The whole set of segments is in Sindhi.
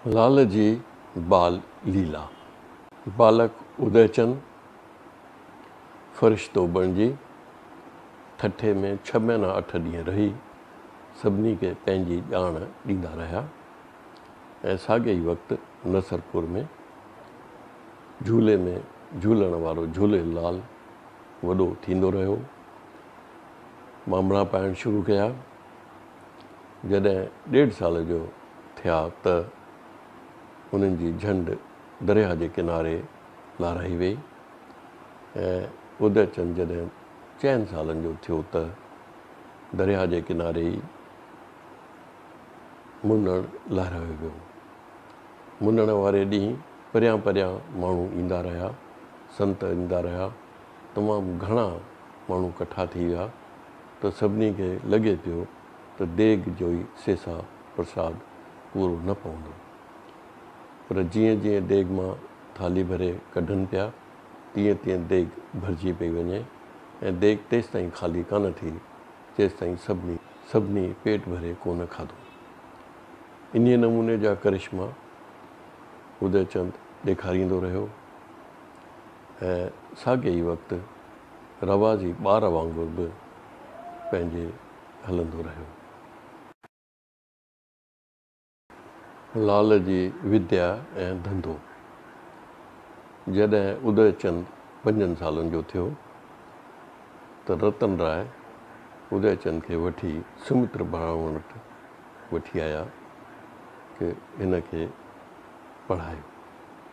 لعل جي بال ليلا، بالڪ ادئي چند فرشتو بڻجي ٺٽي ۾ ڇهه مهينا اٺ ڏينهن رهي سڀني کي پنهنجي ڄاڻ ڏيندا رهيا ۽ ساڳئي ئي وقت نصرپور ۾ جهولي ۾ جهولڻ وارو جهولي لال وڏو ٿيندو رهيو. مامڻا پائڻ شروع ڪيا. جڏهن ڏيڍ سال جو ٿيا ته انهن جي جهنڊ درياهه جي ڪناري لارائي ويئي ۽ اديچند جڏهن چئن سالن جو ٿيو ته درياهه جي ڪناري ئي منڙ لهرايو ويو. منڙ واري ڏينهن پريان پريان ماڻهو ايندا رهيا، سنت ايندا رهيا، تمام گهڻا ماڻهو ڪٺا ٿي ويا ته سڀني کي لڳي پيو ته ديڳ جو ئي سيسا، پرساد، پورو نه پوندو. پر جيئن جيئن ديڳ مان ٿالهي ڀري ڪڍن پيا تيئن تيئن ديڳ ڀرجي پئي وڃي ۽ ديڳ تيستائين خالي ڪانه ٿي جيستائين سڀني سڀني پيٽ ڀري ڪونه کاڌو. انهيء نموني جا ڪرشما ادئچند ڏيکاريندو رهيو. ۽ ساڳئي ئي وقت روازي ٻار وانگر به پنهنجي هلندو رهيو. لعل جي وديا ۽ ڌنڌو جڏهن ادئي چند پنجن سالن جو ٿيو ته رتن راء ادئي چند کي وٺي سمتر براهمڻ وٽ وٺي آيا ته هن کي پڙهايو.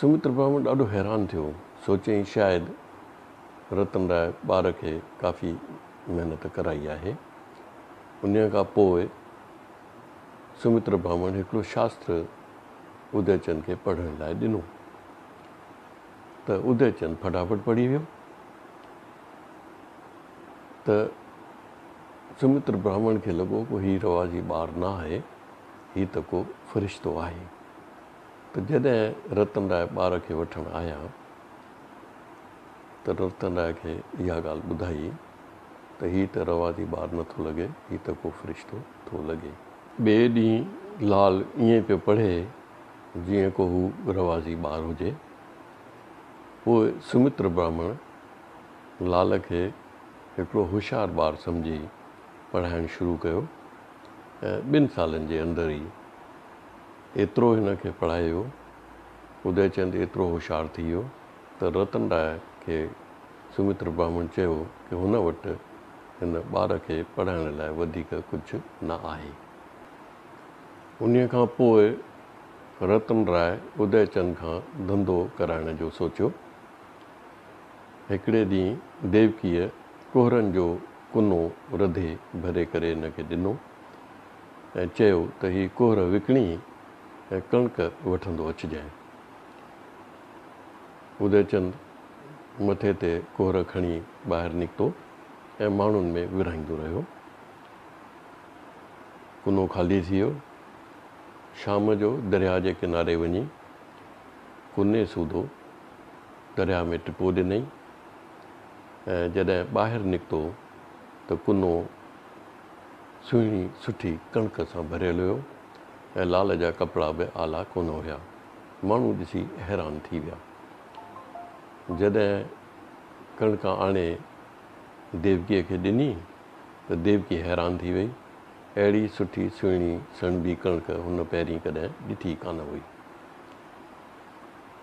سمت برهمڻ ڏاڍو حيران ٿيو. سوچيائين شايد رتن راء ٻار کي ڪافي محنت ڪرائي آهي. انهيء کان پوء سمت برهمڻ هڪڙو شاستر ادي چند کي پڙهڻ لاء ڏنو ته ادي چند ڦٽافٽ پڙهي ويو ته سمت برهمڻ کي لڳو ڪو هي رواجي ٻار نه آهي هي ته ڪو فرشتو آهي ته جڏهن رتن راء ٻار کي وٺڻ آيا ته رتن راء کي اها ڳالهه ٻڌائي ته هي ته روادي ٻار نه ٿو لڳي هي ته ڪو فرشتو ٿو لڳي. ٻئي ڏينهن لال ائين پيو پڙهي جيئن ڪو هو روادي ٻار هجي. پوء سمتر براهمڻ لال کي هڪڙو هوشيار ٻار سمجهي پڙهائڻ شروع ڪيو ۽ ٻن سالن جي اندر ئي ايترو هن کي پڙهايو، اديچند ايترو هوشيار ٿي ويو ته رتن راء کي سومتر برهمڻ چيو ته هن وٽ هن ٻار کي پڙهائڻ لاء وڌيڪ ڪجهه نه آهي. انهيء کان پوء رتن راء اديچند کان ڌنڌو ڪرائڻ جو سوچيو. هڪڙي ڏينهن ديوڪيء ڪهرن جو ڪنو رڌي ڀري ڪري هن کي ڏنو ۽ چيو ته هي ڪهر وڪڻي ۽ ڪڻڪ وٺندو اچجانء. اديچند مٿي تي ڪهر کڻي ٻاهر نڪتو ۽ ماڻهن ۾ ورهائيندو رهيو. ڪنو خالي ٿي ويو. شام جو درياهه جي ڪناري وڃي ڪني سوڌو درياهه ۾ ٽپو ڏنئي ۽ جڏهن ٻاهر نڪتو ته ڪنو سهڻي سٺي ڪڻڪ سان ڀريل هيو ۽ لال جا ڪپڙا به آلا ڪونه هيا. ماڻهو ڏسي حيران ٿي ويا. جڏهن ڪڻڪ آڻي ديوڪيء کي ڏني ته ديوڪي حيران ٿي وئي. اهڙي سٺي سهڻي سڻڀي ڪڻڪ هن پهرين ڪڏهن ڏٺي ڪانه هئي.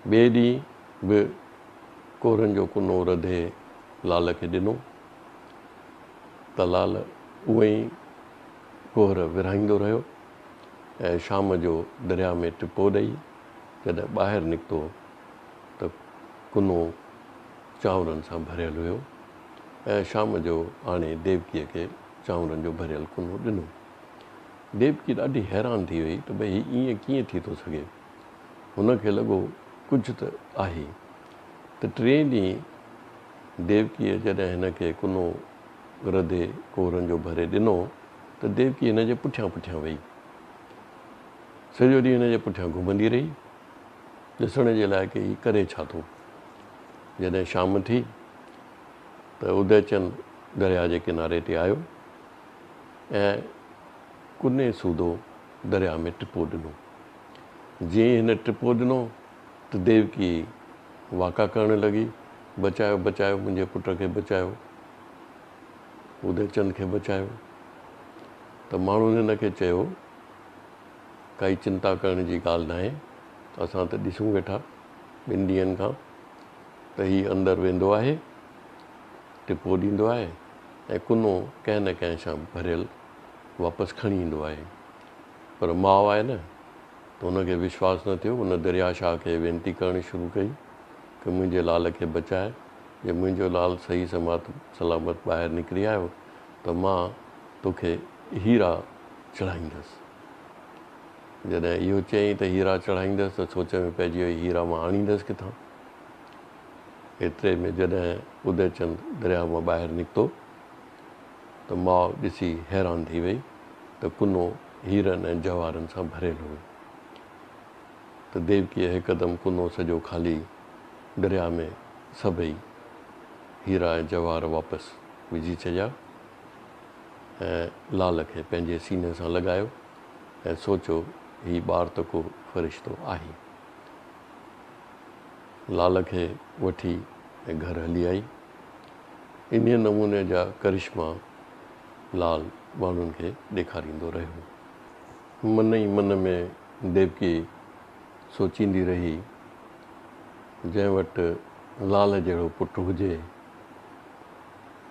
ٻئي ڏينهن به ڪورن جو ڪنو رڌي لعل کي ڏنو ته لعل اهي ئي ڪهر ورهائيندو رهيو ۽ شام جو درياء ۾ ٽپو ڏئي جڏهن ٻاهر نڪتو ته ڪنو چانورن سان ڀريل هيو ۽ شام جو آڻي ديوڪيء کي چانورن جو ڀريل ڪنو ڏنو. ديوڪي ڏاڍي حيران ٿي وئي ته ڀئي هي ائين ڪيئن ٿي ٿو سگهي؟ هن کي لڳو ڪجهه ته آهي ته ٽئين ڏينهن ديوڪيء جڏهن هن کي ڪنو ردي ڪهرن جو ڀري ڏنو ته ديوڪي هن جي پٺيان پٺيان ويئي. سڄو ڏينهن هن جي پٺيان گهمندي رهي، ڏسڻ جي لاء ڪي هي ڪري ڇا ٿو. جڏهن شام ٿي ته اديچند درياء جي ڪناري تي آيو ۽ ڪني سوڌو درياء ۾ ٽپو ڏنو. جيئن ئي هن ٽپو ڏنو ته ديوڪي واڪا ڪرڻ لڳي، بچايو، بچايو، منهنجي پٽ کي بچايو، اديوچند کي بچايو. ته ماڻهن هن کي چيو، ڪائي چنتا ڪرڻ جي ڳالهه ناهي، اسان ته ڏسون ويٺا ٻن ڏينهن کان ته هي اندر ويندو آهي، ٽپو ڏيندو آهي ۽ ڪنو ڪنهن نه ڪنهن سان ڀريل واپس کڻي ايندو آهي. پر ماء آهي نه ته ان کي وشواس نه ٿيو، ان دريا شاهه کي وينتي ڪرڻ شروع ڪئي ته منهنجي لال کي بچاء، جي منهنجو لال صحيح سمات سلامت ٻاهر نڪري آيو ته مان توکي هيرا چڙهائيندس. جڏهن اهو چيائين ته هيرا چڙهائيندس ته سوچ ۾ پئجي ويئي هيرا مان آڻيندس ڪٿان؟ ايتري ۾ جڏهن اديچند درياهه مان ٻاهر نڪتو. ته ماء ڏسي حيران ٿي وئي ته ڪنو هيرن ۽ جواهرن سان ڀريل هو ته ديوڪيء هڪدم ڪنو سڄو کالي درياء ۾ سڀئي هيرا ۽ جواهر واپس وجهي ڇڏيا ۽ لال کي پنهنجي سيني سان لڳايو ۽ سوچيو هي ٻار ته ڪو فرشتو آهي. لال کي وٺي گهر هلي آئي. انهيء نموني جا ڪرشما لال ماڻهن کي ڏيکاريندو رهيو. من ئي من ۾ ديوڪي سوچيندي رهي ته جنهن وٽ لال جهڙو پٽ هجي،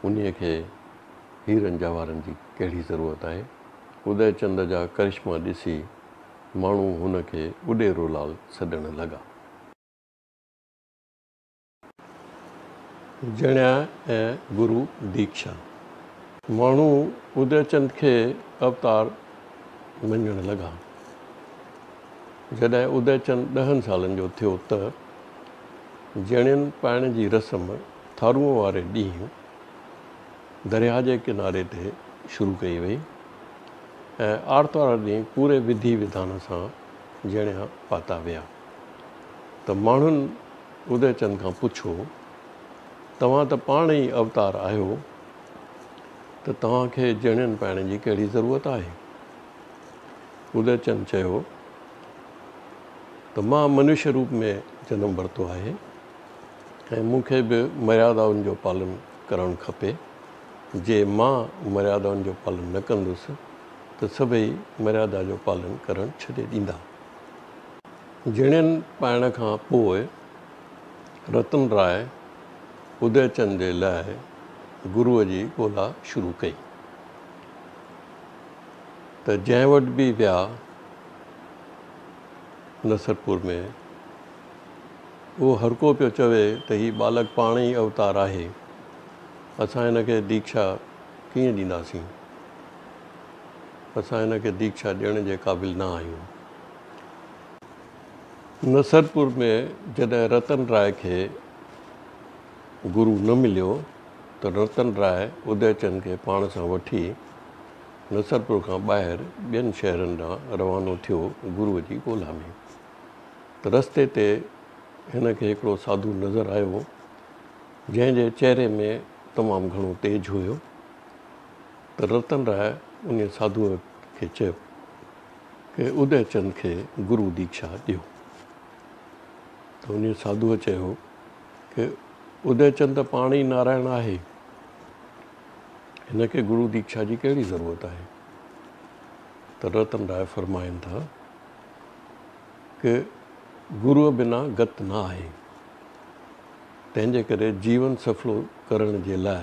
انهيء کي هيرن جواهرن جي ڪهڙي ضرورت آهي؟ ادي چند جا ڪرشما ڏسي ماڻهو هن کي اڏيرو لال سڏڻ لڳا. جنيا ۽ گرو ديڪشا ماڻهو ادي چند کي اوتار مڃڻ لڳا. جڏهن ادي چند ڏهن سالن جو ٿيو ته جنين پائڻ جي رسم ٿارونء واري ڏينهن درياهه جي ڪناري تي شروع ڪئي وئي ۽ آرتوار ڏينهن پوري وڌي وڌان سان جنيا پاتا ويا ته ماڻهن ادي چند کان پڇو، توهان ته پاڻ ئي اوتار آهيو ته توهان کي جهڻين پائڻ جي ڪهڙي ضرورت آهي؟ ادي چند چيو ته مان منوشيه روپ ۾ جنم ورتو آهي ۽ مون کي به مريادائن جو پالن ڪرڻ کپي. جي مان مريادائن جو پالن نه ڪندس ته سڀئي مريادا جو پالن ڪرڻ ڇڏي ڏيندا. جڻين پائڻ کان پوء رتن راء ادي چند جي لاء گروء جي ڳولا شروع ڪئي ته جنهن وٽ به ويا نصرپور ۾ اهو هرڪو پيو چوي ته هي ٻالڪ پاڻ ئي اوتار آهي اسان هن کي ديکشا ڪيئن ڏينداسين اسان هن کي ديکشا ڏيڻ جي قابل نه آهيون. نصرپور ۾ جڏهن رتن راء کي گرو نه مليو ته رتن راء ادي چند کي پاڻ سان وٺي نصرپور کان ٻاهر ٻين شهرن ڏانهن روانو ٿيو گرو جي ڳولا ۾. رستي تي هن کي هڪڙو ساڌو نظر آيو جنهن جي چهري ۾ تمام گهڻو تيج هيو ته رتن راء انهي ساڌوء کي چيو. ڪي ادي چند کي گرو ديکشا ڏيو. ته انهيء ساڌوء چيو ڪي ادي چند ته پاڻ ئي نارائڻ آهي. هن کي گرو ديکشا جي ڪهڙي ضرورت آهي. ته رتن راء فرمائن ٿا ڪي گروء بنا گت نه آهي. تنهن جي ڪري جيون سڦلو ڪرڻ جي لاء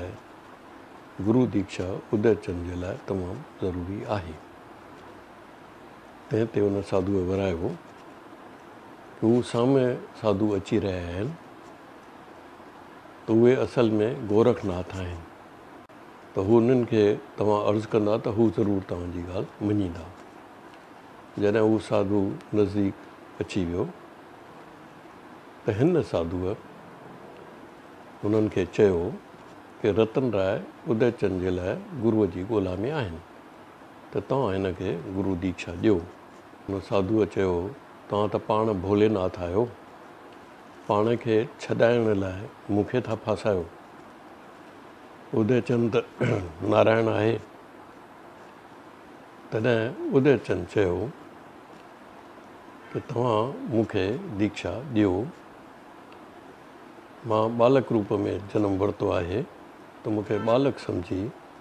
گرو ديکشا ادي چند جي لاء تمام ضروري آهي. تنهن تي ان ساڌوء ورايو هو ته هو سامي ساڌو اچي رهيا آهن ته اهي اصل ۾ گورک ناٿ آهن ته هنن کي توهان عرض ڪندا ته هو ضرور توهان جي ڳالهه مڃيندا. جڏهن هو ساڌو نزديڪ اچي ويو ته هن ساڌوء هنن کي چيو ته رتن راء اديچن جي لاء گروء جي ڳولا ۾ آهن. ته توهان هن کي گرو ديکشا ڏيو. ان ساڌوء چيو، توهان ته پاڻ ڀولي ناٿ آهيو، پاڻ کي ڇڏائڻ لاء مون کي ٿا ڦاسايو. ادي چند ته نارائڻ آهي. تڏهن ادي چند چيو ته توهان مون کي ديکشا ڏيو، مان ٻالڪ روپ ۾ جنم ورتو آهي ته مون کي ٻالڪ سمجهي